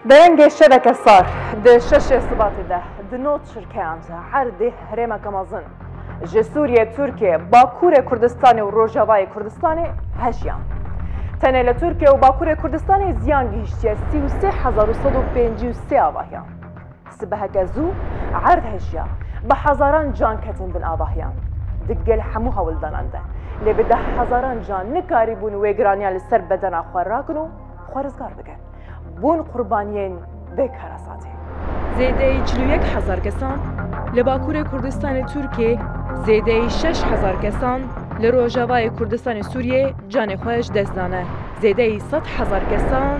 Derengê şeveke sar di şeşê Sibatê de di no çirkeyan de erdê herêmeke mezin ji Sûriyê, Tirkiyê, Bakurê Kurdistanê û Rojavayê Kurdistanê heşiyan. Tenê li Tirkiyê û Bakurê Kurdistanê ziyan gihîştiye sî û sê hezar û sed û pêncî û sê avahiyan. Sibeheke zû erd heşiya, bi hezaran can ketin bin avahiyan. Di gel hemû hewldanan de lê bi dehhezaran can nikarîbûn wê giraniya li ser bedena xwe rakin û xwe rizgar bikin. bûn qurbaniyên vê karasatê. Zêdeyî çil û yek hezar kesan li Bakurê Kurdistanê Tirkiyê zêdeyî şeş hezar kesan li Rojavayê Kurdistanê Sûriyê canê xwe ji dest dane, zêdeyî sed hezar kesan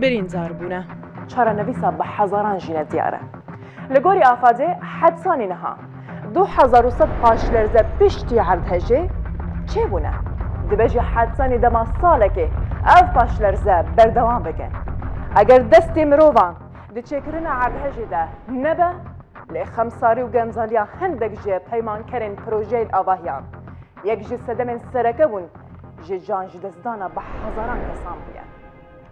birîndar bûne. Çarenivîsa bi hezaran jî ne diyar e. Li gorî Afadê hetsanî niha. Du hezar û sed paşlerze piştî erdhejê çêbûne. Dibe jî hertenê dema salekê ev paşlerze berdewam bike. Eger destê mirovan di çêkirina erdhejê de nebe, lê xemsarî û genzaliya hindek ji peymankerên projeyên avahiyan, yek ji sedemên sereke bûn ji canjidestdana bi hezaran kesan bûye.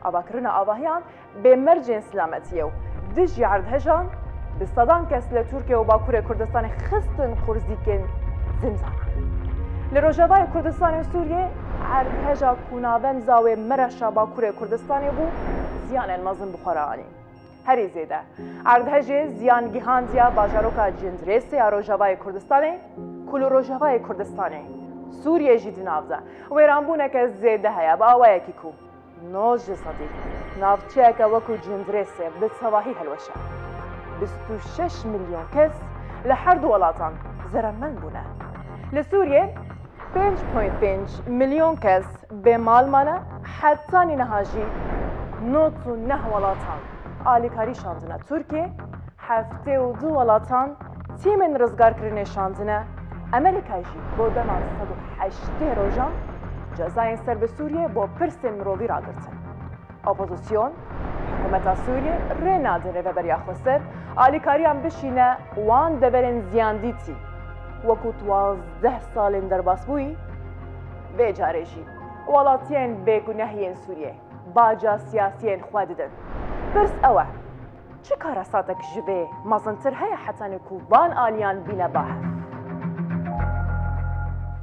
Avakirina avahiyan Bê mercên silametiyê û dijî erdhejan bi sedan kes li Tirkiye û Bakurê Kurdistanê xistin qurzîkên zimzanan. Li Rojavayê Kurdistanê û Sûriyê erdheja ku navend zawê Mereşa Bakurê Kurdistanê bû ziyanên mezin bi xwe re anî. Herî zêde erdhejê ziyan gihandiya bajaroka Cindirêsê ya Rojavayê Kurdistanê ku li Rojavayê Kurdistanê Sûriyê jî di nav de wêranbûneke zêde heye bi awayekî ku Nojê sedî navçeyeke wekû Cindrêsê bi tevahî hilweşe. Bîst û şeş milyon kes li her du welatan zeremend bûne. Li Sûriyê pênc point pênc milyon kes bê mal mane heta nîniha jî nod û neh welatan alîkarî şandine Tirkiyê, Heftê û du welatan tîmên rizgarkirinê şandine, Amerîka jî bo dema sed û heştê rojan cezayên ser bi Sûriyê bo pirsên mirovî ragirtin. Opozîsyon, hikûmeta Sûriyê rê nade rêveberiya xwe ser alîkariyan bişîne wan deverên ziyandîtî wekû tu wazdeh salên derbas bûyî, vê carê jî welatiyên bêguneh yên Sûriyê baca siyasiyên xwe didin. Pirs ew e. Çi karesatek ji vê mezintir heye hetanê ku van aliyan bîne bahs?